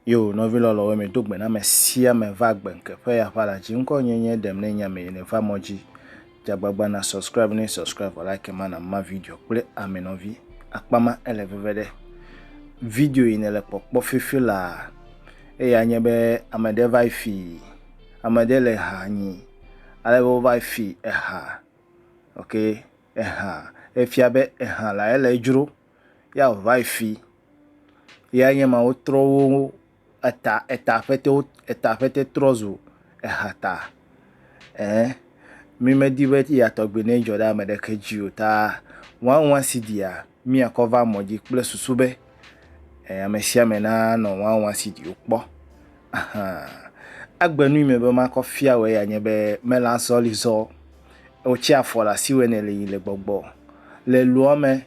Yo, nɔvi lɔlɔwo, mi do gbe na me sia me va gbe nke ƒe ya ƒa la dzi ŋkɔ nye nye ɖem ne nya me yene va mɔ dzi. Dze agbagba na subscribe ne subscribe vɔ like ma na ma video kple ame nɔvi akpa ma ele veve ɖe video yi ne le kpɔkpɔ fifi la eya nye be ame ɖe va fi ame ɖe le ha nyi ale be wova fi eha ok eha efia be eha la ele dzro ya wova fi ya nye ma wotrɔ wo Eta, eta ƒete wo, eta ƒete trɔ zu ehata. Ɛɛ, mí me di be eya tɔgbi ne edzɔ ɖe ame ɖeke dzi o ta wãwã si ɖia, mí a kɔ va mɔ dzi kple susu be, ɛɛ, ame sia ame na nɔ wãwã si ɖi wo kpɔ. Ahan. Egbe nui me be ma kɔ fia wɔ eya nye be, me le azɔlizɔ, wo tsi afɔ le asiwɛ nɛ le yi le gbɔgbɔ. Le luɔ me,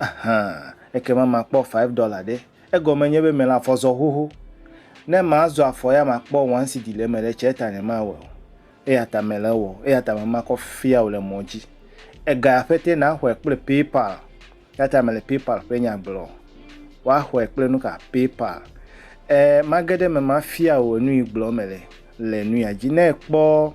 Aha, ekema makpɔ five dollar ɖe. Egɔme nye be mele afɔ zɔ xoxo. Ne mazɔ afɔ ya makpɔ one cedi le eme ɖe tse eta nyemawɔe o. Eya ta mele ewɔ, eya ta mema kɔ fia wò le mɔ dzi. Ega ya ƒete naxɔe kple PayPal. Eya ta mele PayPal ƒe nya gblɔ. Woaxɔe kple nuka? PayPal. E, mage ɖe eme mafia wò enu yi gblɔ mele le nu ya dzi. Ne ekpɔ.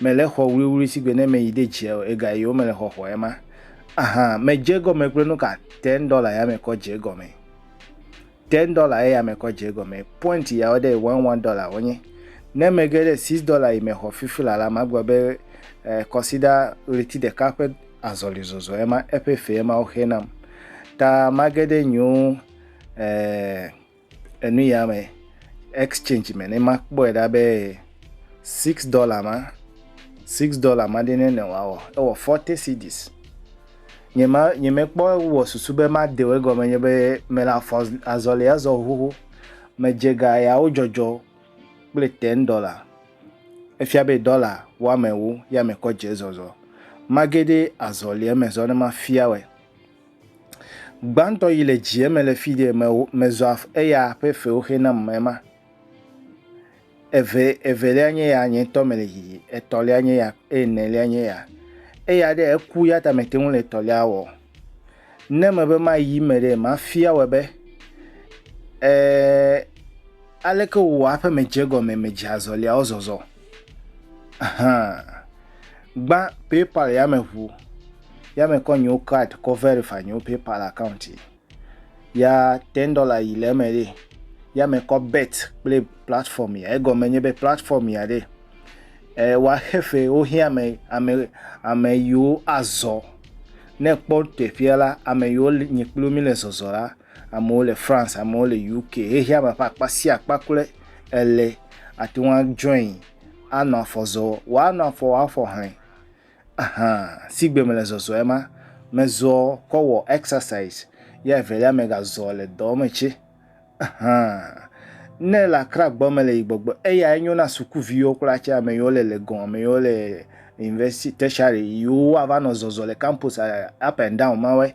Mèle xɔ wluiwlui si gbe ne mèyi ɖe dzia o, ega yi wo mele xɔxɔ ema. Aha, mèdze egɔme kple nu ka? Ten dollar ya mekɔ dze egɔme. Ten dollar eya mekɔ dze egɔme. Point yawo ɖe one one dollar wonye. Ne mege ɖe six dollar yi me xɔ fifi la la, magblɔ be eh, kɔsiɖa ɣleti ɖeka ƒe azɔlizɔzɔ ema, eƒe fe ema woxe nam. Ta mage ɖe nyiwo eh, Enu ya me exchange me ne makpɔe ɖa be six dollar ma six dollar ma ɖe ne ne wɔ ewɔ forty cedis. Nye ma nye mekpɔ wɔ susu be made wo egɔme nye be mele afɔ azɔli azɔ xoxo. Medze ga yawo dzɔdzɔ kple ten dollar. Efia be dollar woamewo ya mekɔ dze zɔzɔ. Mage ɖe azɔlia me zɔ ne mafia wɔe. Gbãtɔ yi le dzi eme le fidie me me zɔ eya ƒe fewo xe nam me ma. Eve evelia nye ya nye tɔ me le yiyi. Etɔlia nye ya eye enelia nye ya. Eya ɖe eku ya ta me te ŋu le etɔlia wɔ. Ne me be ma yi me ɖe ma fia wɔ be e aleke wò aƒe me dze gɔme me dze azɔlia wo zɔzɔ. Ahan. Gbã PayPal ya me ʋu. ya me kɔ nyewo card kɔ verify nyewo PayPal account yi. Ya ten dollar yi le eme ɖe. Ya me kɔ bet kple platform ya. Egɔme nye be platform ya ɖe. E, wa xefe wohiã ame ame ame yiwo azɔ. Ne kpɔ teƒea la, ame yiwo nye kpli mi le zɔzɔ la, amewo le France, amewo le UK. Xexea me ƒe akpa sia akpa kple ele ate ŋu join anɔ afɔ zɔ. Woanɔ afɔ, woafɔ hlẽ. Ahan sigbe mele zɔzɔɛ ma mezɔ kɔ wɔ exercise ye evelia mega zɔ le dɔ me tse ahan ne ele akra gbɔ mele yi gbɔgbɔ eya enyo na suku viwo kura tse ameyiwo le legon ameyiwo le university tertiary yiwo ava nɔ zɔzɔ le campus up and down mawɔe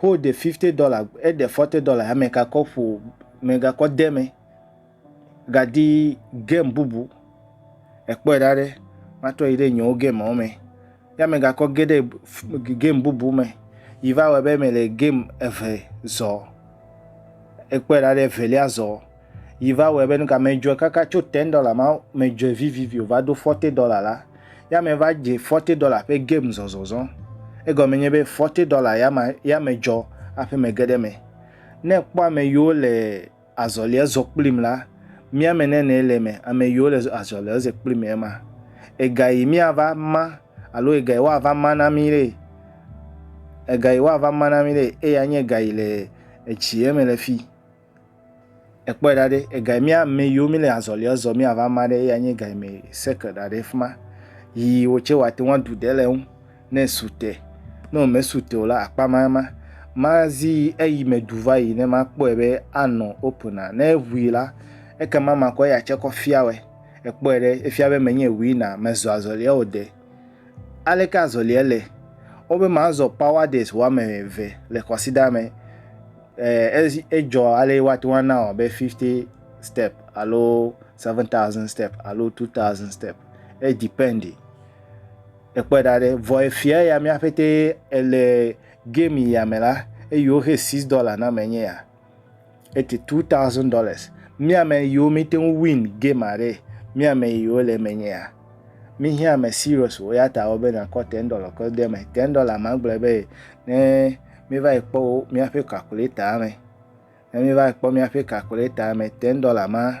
Xo ɖe fifte dɔla, eɖe fɔte dɔla ya megakɔ ƒo, megakɔ de me gadi gem bubu. Ekpɔe ɖa ɖe matrɔ yi ɖe nyewo gemawo me. Ya megakɔ ge ɖe gem bubu me yi va wɔ be mele gem eve zɔ. Ekpɔe ɖa ɖe evelia zɔ. yi va wɔe be nu ka medzɔe kaka tso ten dollar ma medzɔe vivivi o va do forty dollar la ya me va dze forty dollar ƒe game zɔzɔzɔ egɔme nye be forty dollar ya ma ya medzɔ aƒe me ge ɖe me ne kpɔ ame yiwo le azɔlia zɔ kplim la mía me nene le me ame yiwo le azɔlia ze kplim ema ega yi mía va ma alo ega yi woava ma na mi ɖe ega yi woava ma na mi ɖe eya nye ega yi le etsi eme le fi Ekpɔe ɖa ɖe, ega yi mía ame yiwo míle azɔlia zɔ míava ma ɖe eya nye ega yi me seke ɖa ɖe fi ma. Yi wò tse wòate ŋu aɖu ɖe le eŋu ne esu te. Ne wòmesu te o la, akpa ma ema. Mazi eyi me ɖu va yi ne makpɔe be anɔ opena. Ne eŋui la, ekema makɔ eya tse kɔ fia wɔe. Ekpɔe ɖe, efia be menye winner, mezɔ azɔlia o ɖe. Aleke azɔlia le? Wobe mazɔ power days woame eve le kwasiɖaa me. Ɛɛ edzɔ ale woate ŋu ana wɔ be fifti stɛp alo seven taɔsɛn stɛp alo tu taɔsɛn stɛp. Edipɛndi. Ekpɔe ɖa ɖe. Vɔ efiɛ ya mía ƒetee ele gɛmi ya me la, eyiwo xe six dɔla na mee nye ya. ete two thousand dollars mi ame yiwo mi te ŋu win game aɖe mi ame yiwo le eme nyea mi hɛ ame serious wo ya ta wo be na kɔ ten dollar kɔ de me ten dollar ma gblɔ be ne mi va yi kpɔ wo mi aƒe calculator me ne mi va yi kpɔ mi aƒe calculator me ten dollar ma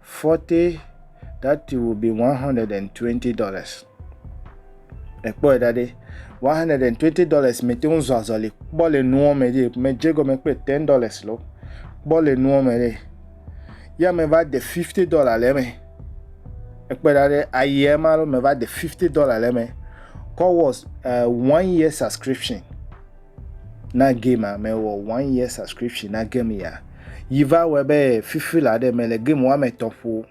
Forte that will be 120 dollars ekpɔe ɖa ɖe 120 dollars mete ŋu zɔ azɔli kpɔ le nuwo me ɖe medze gɔme kple 10 dollars lo kpɔ le nuwo me ɖe ya meva de 50 dollar le eme ekpe ɖa ɖe ayea ma lo meva de 50 dollar le eme kɔ was uh, one year subscription Na game a me wɔ one year subscription na game ya. Yi va wɔ be fifi la ɖe me le game wa me tɔ ƒo.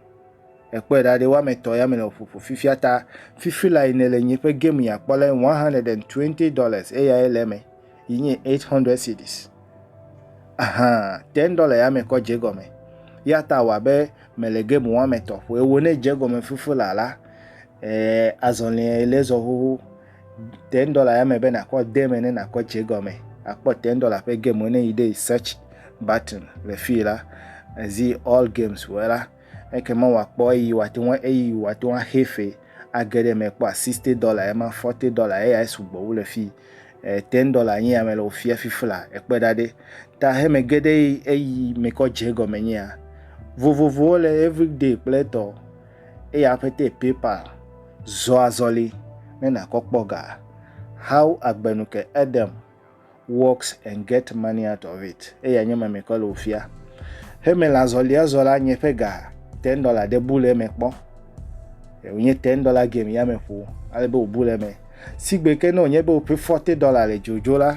Ekpɔe ɖa ɖe wa me tɔ ya me le ƒoƒo fifi ata fifi la yi ne le nye ƒe game ya kpɔ le 120 dollars eya ye le me yi nye 800 cedis. Aha, 10 dollars ya me kɔ je gɔme. Ya ta wa be me le game wa me tɔ ƒo. Ewo ne je gɔme fifi la la. Eh, azɔlɛ le zɔ hoho. ten dollar ya me be nakɔ de me ne nakɔ dze gɔme akpɔ ten dollar ƒe game wo ne yi ɖe search button le fi la ezi all games wɔ la eke ma wakpɔ eyi wate ŋu eyi wate ŋu axe fe age ɖe me kpɔ sixty dollar ema forty dollar eya sugbɔ wu le fi eh, ten dollar nye ame le wofia fifla ekpe ɖa ɖe ta heme ge ɖe eyi mekɔ dze gɔme nyea vovovowo le everyday kple tɔ eye aƒetɛ PayPal zɔ azɔli ne nakɔ kpɔ ga How Agbenu ke Edem Works and Get Money Out of It eya nye mɛmɛkɔ le wofia. He mele azɔlia zɔ la nye ƒe ga ten dollar ɖe bu le eme kpɔ. Wònye ten dollar game ya me ƒo ale be wòbu le eme. Sigbe ke ne wònye be woƒe forty dollar le dzodzo la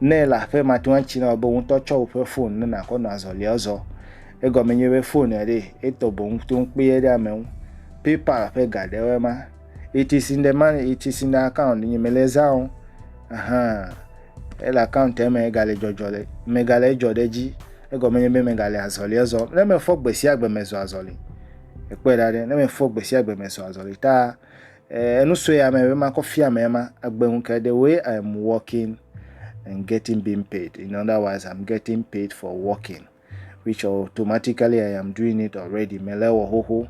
Nɛ le aƒe ma toa ŋtsi na wò be wotɔ tsɔ woƒe fon ne nakɔ nɔ azɔlia zɔ. Egɔme nye be fon ya ɖe etɔ boŋ to ŋkpe ye ɖe ame ŋu. PayPal ƒe ga ɖe woe ma. It is in the man, it is in the account. Nye me le zã o. Ahan. Ele account me ega le dzɔdzɔ le. Me ga le dzɔ ɖe dzi. Egɔme nye be me ga le azɔlia zɔ. Ne me fɔ gbe sia gbe me zɔ azɔli. Ekpɔe ɖa ɖe ne me fɔ gbe sia gbe me zɔ azɔli ta Eh, enu sue ame be ma kɔ fia ame ma agbenu ke the way I'm working and getting being paid. In other words, I'm getting paid for working, which automatically I am doing it already. Me le wɔ xoxo.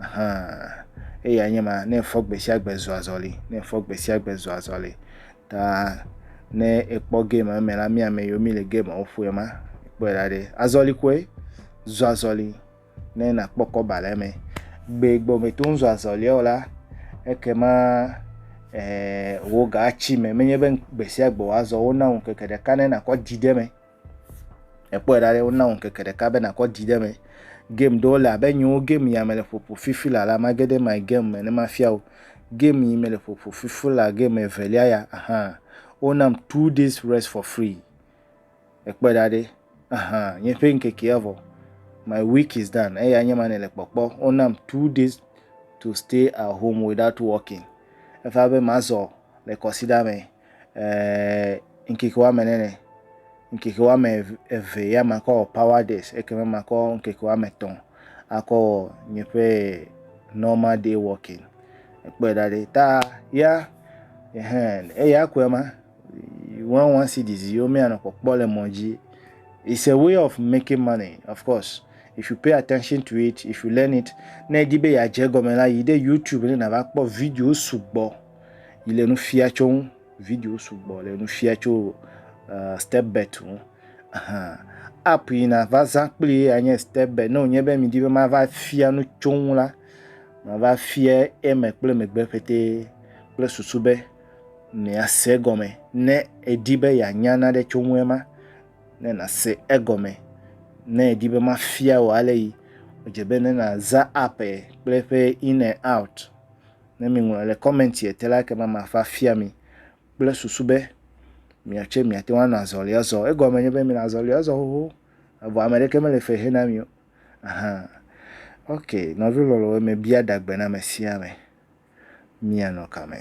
Aha. Eya nye ma ne fɔ gbe sia gbe zɔ azɔli, ne fɔ gbe sia gbe zɔ azɔli. Ta ne ekpɔ game eme la mi ame yo mi le game wo ƒoe ma. Kpɔe la ɖe. Azɔli koe zɔ azɔli. ne nakpɔ kɔba le eme. Gbee gbɔ mèto ŋu zɔ azɔlia o la, ekema ee wò ga atsi eme. Menye be gbe sia gbe wòazɔ, wona wò ŋkeke ɖeka ne nàkɔ di ɖe eme. Èkpɔe ɖa ɖe, wona wò ŋkeke ɖeka be nàkɔ di ɖe eme. Game ɖewo le abe nyiwo game ya mele ƒoƒo fifi la la, mage ɖe my game me ne mafia wò. Game yi mele ƒoƒo fifi la game evelia ya, ahan, wonam two days rest for free. Ekpɔe ɖa ɖe, aha, nye ƒe ŋkekea vɔ, my week is done, eya nye ma nèle kpɔkpɔ, wonam two days to stay at home without working, eva be mazɔ le kɔsiɖa me eeee ŋkeke woame nene, ŋkeke woame eve ya makɔ wɔ power days, ekema makɔ ŋkeke woame etɔ̃ akɔ wɔ nye ƒe normal day working, ekpɔe ɖa ɖe, ta ya, ehe, eya koe ma, Wawa si dzi ziwo mianɔ kpɔkpɔ le mɔ dzi. It's a way of making money of course if you pay attention to it if you learn it ne edi be yeadze egɔme la yi ɖe YouTube ne nava kpɔ video sugbɔ yi le nu fia tso ŋu video sugbɔ le nu fia tso uh, step bet ŋu. Uh-huh. App yi nava zã kpli anye step bet ne wònye be midi be mava fia nu tso ŋu la mava fia eme kple megbe ƒete kple susu be miase egɔme. Ne èdi be yeanya nane tso ŋu ema, ne nàse egɔme. Ne èdi be mafia wò ale yi, edze be ne nàza app ye kple eƒe in and out. Ne miŋlɔ le kɔmɛntie te la, ekema mava afia mi kple susu be miawo tsɛ miate ŋu anɔ azɔlia zɔm. Egɔme nye be minɔ azɔlia zɔm xoxo evɔ ame ɖeke mele fe hena mi o. Aha, ok, nɔvi lɔlɔ̃wo, mebia ɖa gbe na ame sia ame míanɔ kame.